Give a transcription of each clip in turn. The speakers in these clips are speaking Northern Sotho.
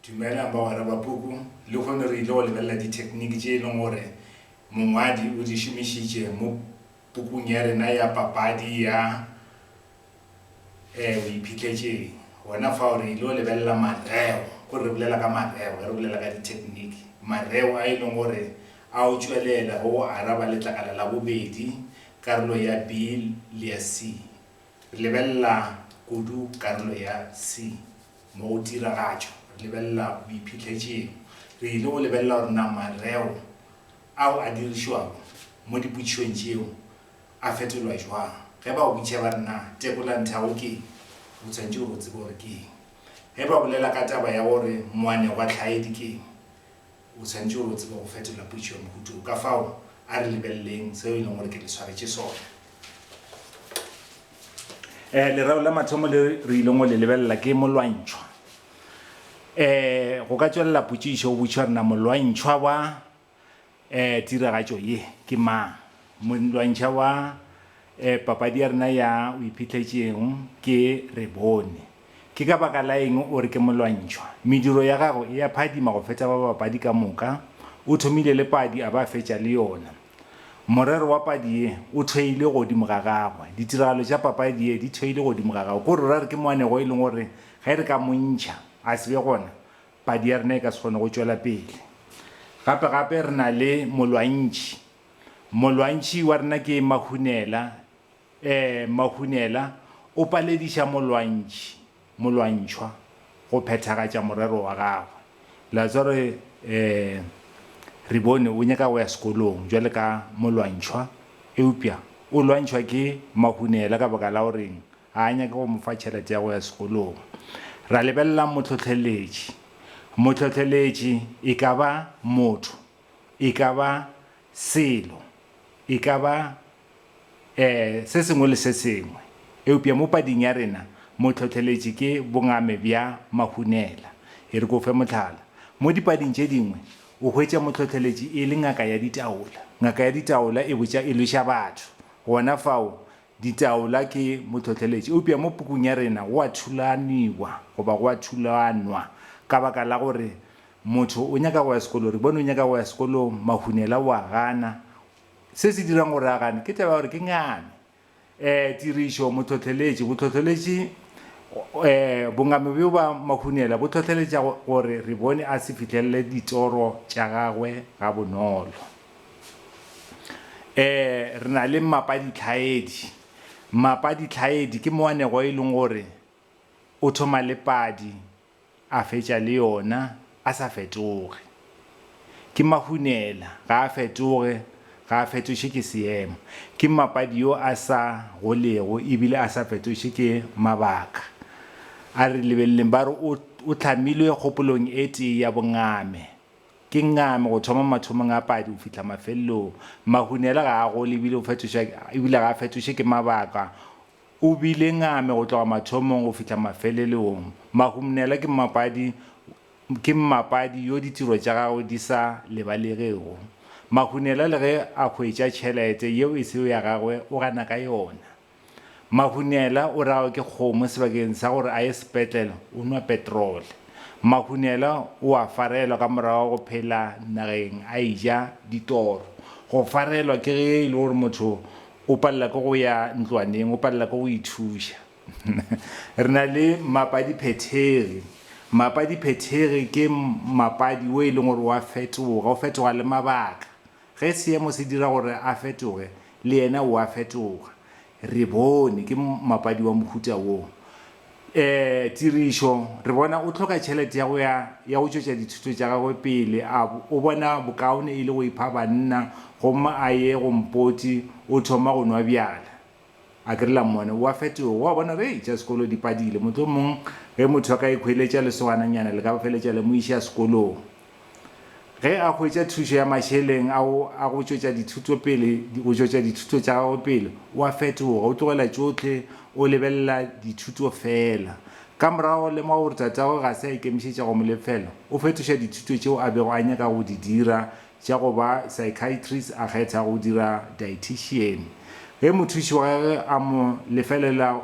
Dumelang bagwera ba puku. Lehono re ile go lebelela dithekniki tše e leng gore mongwadi o di šomišitše mo pukung ya rena ya Papadi ya e O Iphitlhetšeng. Gona fao re ile go lebelela mareo, kore re bolela ka mareo ge re bolela ka dithekniki, mareo a e leng gore a o tšwelela go go araba letlakala la bobedi, karolo ya B le ya C. Re lebelela kudu karolo ya C. Mo go tiragatšo, re lebelela boiphihletseng. Re ile go lebelela gore na mareo ao a dirišwago mo dipotšišong tšeo a fetolwa jwang. Ge ba go botšiša ba re na tekolanthabo ke eng, o swanetše gore o tsebe gore ke eng. Ge ba bolela ka taba ya gore moanegwatlhaedi ke eng, O swanetše go tseba go fetola potšišo ya mohuta wo. Ka fao, a re lebeleleng seo e leng gore ke le swaretše sona. Um lereo la mathomo le re ileng go le lebelela ke molwantšhwa. Um go ka tšwelela potšišo o botšiša gore na molwantšhwa wa um tiragatšo ye ke mang. Montlwantšha wa papadi ya rena ya O Iphihlets'e'ng ke Re Bone. Ke ka baka la eng o re ke molwantšhwa? Mediro ya gagwe e a phadima go feta ba bapadi ka moka. O thomile le padi a ba a fetša le yona. Morero wa padi ye o theilwe godimo ga gagwe. Ditiragalo tša papadi ye di theilwe godimo ga gagwe. Ke gore o ra re ke moanegwa e leng gore ge re ka mo ntšha a se be gona, padi ya rena e ka se kgone go tšwela pele. Gape-gape re na le molwantšhi. Molwantšhi wa rena ke Mahunela. Ee, Mahunela o palediša molwantšhi, molwantšhwa, go phethagatša morero wa gagwe. Le a tseba gore ee, re bone o nyaka go ya sekolong bjale ka molwantšhwa, eupša o lwantšhwa ke Mahunela ka baka la goreng ga a nyake go mo fa tšhelete ya go ya sekolong. Ra lebelela mohlohleletši. Mohlohleletši e ka ba motho. e ka ba selo, e ka ba eh, se sengwe le se sengwe, eupša mo pading ya rena mo hlohleletše ke bongame bja mahunela. E re ke o fe mohlala. Mo dipading tše dingwe o hwetša mohlohleletši e le ngaka ya ditaola. Ngaka ya ditaola e botša e lweša batho gona fao, ditaola ke mohlohleletši. Eupša mo pukung ya rena go a thulaniwa, goba go a thulanwa, ka baka la gore Motho o nyaka go ya sekolong, re bone o nyaka go ya sekolong, Mahunela o a gana. Se se dirang gore a gane ke taba ya gore ke ngame. Um Tirišo, Motlhohleletši, Botlhohleletši, um bongame bjo ba Mahunela bo hlohleletša gore re bone a se fihlelele ditoro tša gagwe gabonolo. Um Re na le mmapa ditlhaedi. Mmapa ditlhaedi ke moanegwa e leng gore o thoma le padi A fetša le yona a sa fetoge. Ke Mahunela, ga a fetoge, ga a fetoše ke seemo. Ke mmapadi yo a sa golego e bile a sa fetoše ke mabaka. A re lebeleleng ba re o, o hlamilwe kgopolong e tee ya bongame. Ke ngame go thoma mathomong a padi go fihla mafelelong. Mahunela ga a gole e bile o fetoša, e bile ga a fetoše ke mabaka. O bile ngame go tloga mathomong go fihla mafeleleong. Mahumnela ke mmapadi ke mmapadi yo ditiro tša gagwe di sa lebalegego. Mahunela le ge a hwetša tšhelete yeo e sego ya gagwe o gana ka yona. Mahunela o rawa ke kgomo sebakeng sa gore a ye sepetlele o nwa petrole. Mahunela o a farelwa ka morago ga go phela nageng a eja ditoro. Go farelwa ke ge e le gore motho O palela ke go ya ntlwaneng, o palela ke go ithuša. Re na le mapadiphethegi. Mapadiphethegi ke mapadi o e leng gore wa fetoga, o fetoga le mabaka. Ge seemo se dira gore a fetoge, le yena o a fetoga. Re bone ke mapadi wa mohuta wo. Ee, tirišo. Re bona o hloka tšhelete ya go ya ya go tšwetša dithuto tša gagwe pele. A o bona bokaone e le go ipha banna gomme a ye go mpoti o thoma go nwa bjala? A ke re la mmone o a fetoga, o a bona gore hei tša sekolo di padile. Mohlomong ge motho a ka ikhweletša lesogana nyana le ka feletša le mo iša sekolong. Ge a hwetša thušo ya mašeleng ao a go tšwetša dithuto pele, go tšwetša dithuto tša gagwe pele, o a fetoga, o tlogela tšohle, o lebelela dithuto feela. Ka morago o lemoga gore tatagwe ga se a ikemišetša go mo lefela, o fetoša dithuto tšeo a bego a nyaka go di dira tša go ba psychiatrist a kgetha go dira dietician. Ge mothuši wa gagwe a mo lefelela,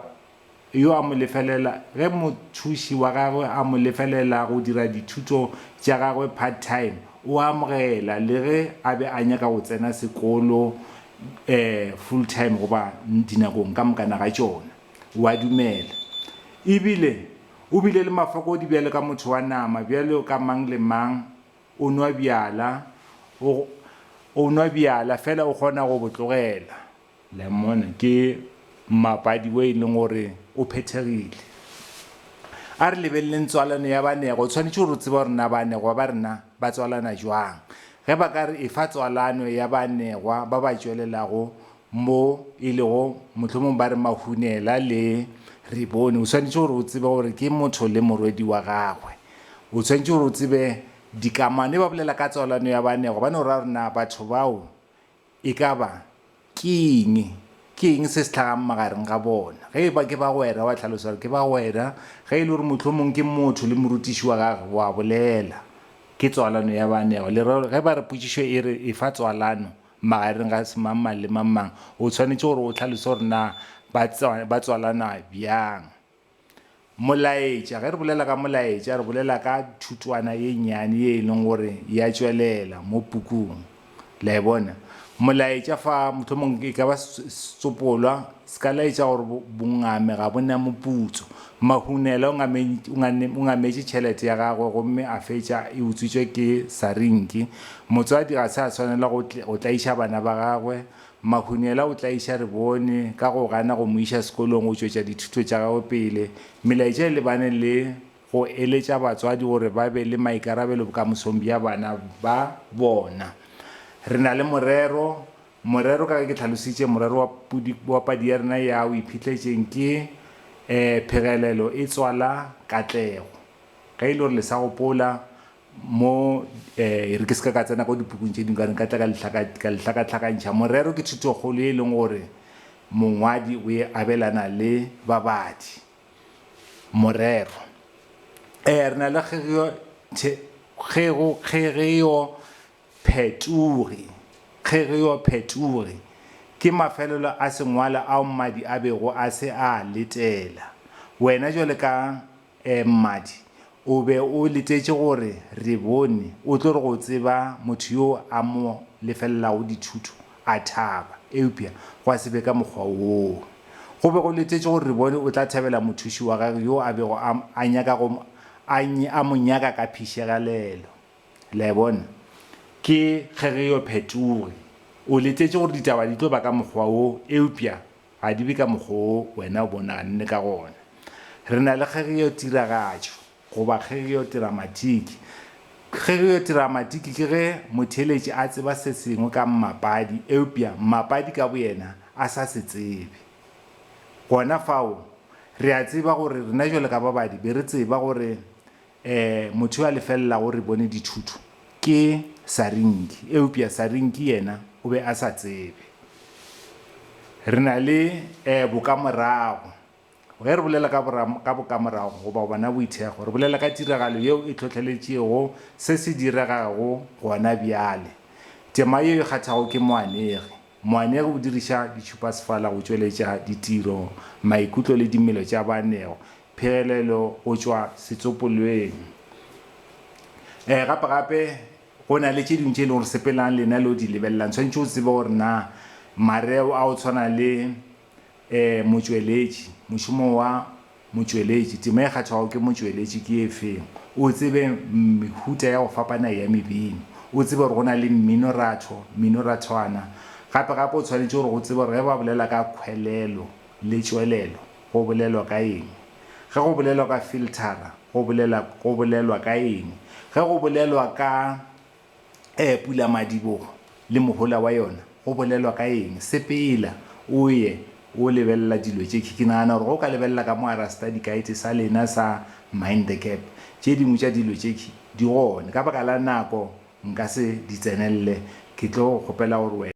yo a mo lefelela ge mothuši wa gagwe a mo lefelela go dira dithuto tša gagwe part-time, o a amogela le ge a be a nyaka go tsena sekolo full-time goba dinakong ka mokana ga tšona. O a dumela. E bile o bile le mafokodi bjalo ka motho wa nama, bjalo ka mang le mang. O nwa bjala, o nwa bjala, feela o kgona go bo tlogela. Lemon ke mmapadi wo e leng gore o phethegile. A re lebeleleng tswalano ya banego, o tshwanetše gore o tseba gore na banegwa ba rena ba tswalana jwang. Ge ba ka re efa tswalano ya banegwa ba ba tšwelelago mo e lego mohlomong ba re Mahunela le Rebone, o tshwanetše gore o tsebe gore ke motho le morwedi wa gagwe. O tshwanetše gore o tsebe dikamano, e ba bolela ka tswalano ya banegwa ba no raya gore na batho bao E ka ba, ke eng? Ke eng se se hlagang magareng ga bona? Ge e ba ke bagwera, wa hlalosa gore ke bagwera. Ge e le gore mohlomong ke motho le morutiši wa gagwe, wa bolela ke tswalano ya baanegwa. Lereo, ge ba re potšišo e re, Efa tswalano magareng ga semangmang le mangmang, o swanetše gore o hlalose gore na ba tswalana bjang. Molaetša, Ge re bolela ka molaetša, re bolela ka thutwana ye nnyane ye e leng gore e a tšwelela mo pukung. La e bona? Molaetša fa, mohlomong e ka ba setsopolwa se ka laetša gore bongame ga bo na moputso. Mahunela o ngame, o ngametše tšhelete ya gagwe gomme a fetša e utswitšwe ke sarinki. Motswadi ga se a swanela go tlaiša bana ba gagwe Mahunyela o tlaiša Rebone ka go gana go mo iša sekolong go tšwetša dithuto tša gagwe pele. Melaetša e lebane le go eletša batswadi gore ba be le maikarabelo bokamosong bja bana ba bona. Re na le morero, morero ka ge ke hlalositše, morero wa pudi, wa padi ya rena ya O Iphetletšeng ke, ee, phegelelo e tswala katlego. Ge e le gore le sa gopola, mo e re ke se ka ka tsena ko dipukung tše dingwe ka re nka tla ka lehlaka ka lehlakatlhakantšha morero ke thutokgolo ye e leng gore mongwadi o e abelana le babadi morero um re na le kgegeo kgego kgegeo phetogi kgegeo phetogi ke mafelelo a sengwalo ao mmadi a bego a se a letela wena jwale ka Ee, mmadi, o be o letetše gore re bone o tlo re go tseba motho yo a mo lefelelago dithuto a thaba, eupša gwa se be ka mokgwa woo. Go be go letetše gore re bone o tla thabela mothuši wa gagwe yo a bego a, a nyaka go, a, a mo nyaka ka phišegalelo. Le a e bona? Ke ge re yo phetoge. O letetše gore ditaba di tlo ba ka mokgwa wo, eupša Ga di be ka mokgwa wo wena o bonang le ka gona. Re na le kgegeotiragatšo, goba kgegeotiramatiki. Kgegeotiramatiki ke ge motheeletši a tseba se sengwe ka mmapadi eupša mmapadi ka boyena a sa se tsebe. Gona fao, re a tseba gore rena bjalo ka babadi be re tseba gore Ee, motho yo a lefelelago re bone dithuto ke Sarinki, eupša Sarinki yena o be a sa tsebe. Re na le ee bokamorago. Ge re bolela ka, ka bokamorago goba bona boithekgo, re bolela ka tiragalo yeo e hlohleletšego se se diregago gona bjale. Tema yeo e kgathago ke moanegi. Moanegi o diriša ditšhupasefala go tšweletša ditiro, maikutlo le dimelo tša baanego, phegelelo go tšwa setsopolweng. Ee, gape gape go na le tše dingwe tše e lego gore sepelang le na le o di lebelelang. Tshwanetše o tsebe gore na mareo a go tshwana le. E, motšweletši, mošomo wa motšweletši. Tema e kgathago ke motšweletši ke e feng? O tsebe mehuta ya go fapana ya mebino. O tsebe gore go na le mminoratho, mminurathwana. Gape gape o tshwanetše gore go tsebe gore ge ba bolela ka khwelelo le tšwelelo go bolelwa ka eng. Ge go bolelwa ka filthara go bolela go bolelwa ka eng. Ge go bolelwa ka Ee, pulamadibogo le mohola wa yona go bolelwa ka eng? Sepela o ye o lebelela dilo tše. Ke nagana gore ge o ka lebelela ka mo gara study guide sa lena sa Mind the Gap, tše dingwe tša dilo tše di gone. Ka baka la nako nka se di tsenelele, ke tlo go kgopela gore wena.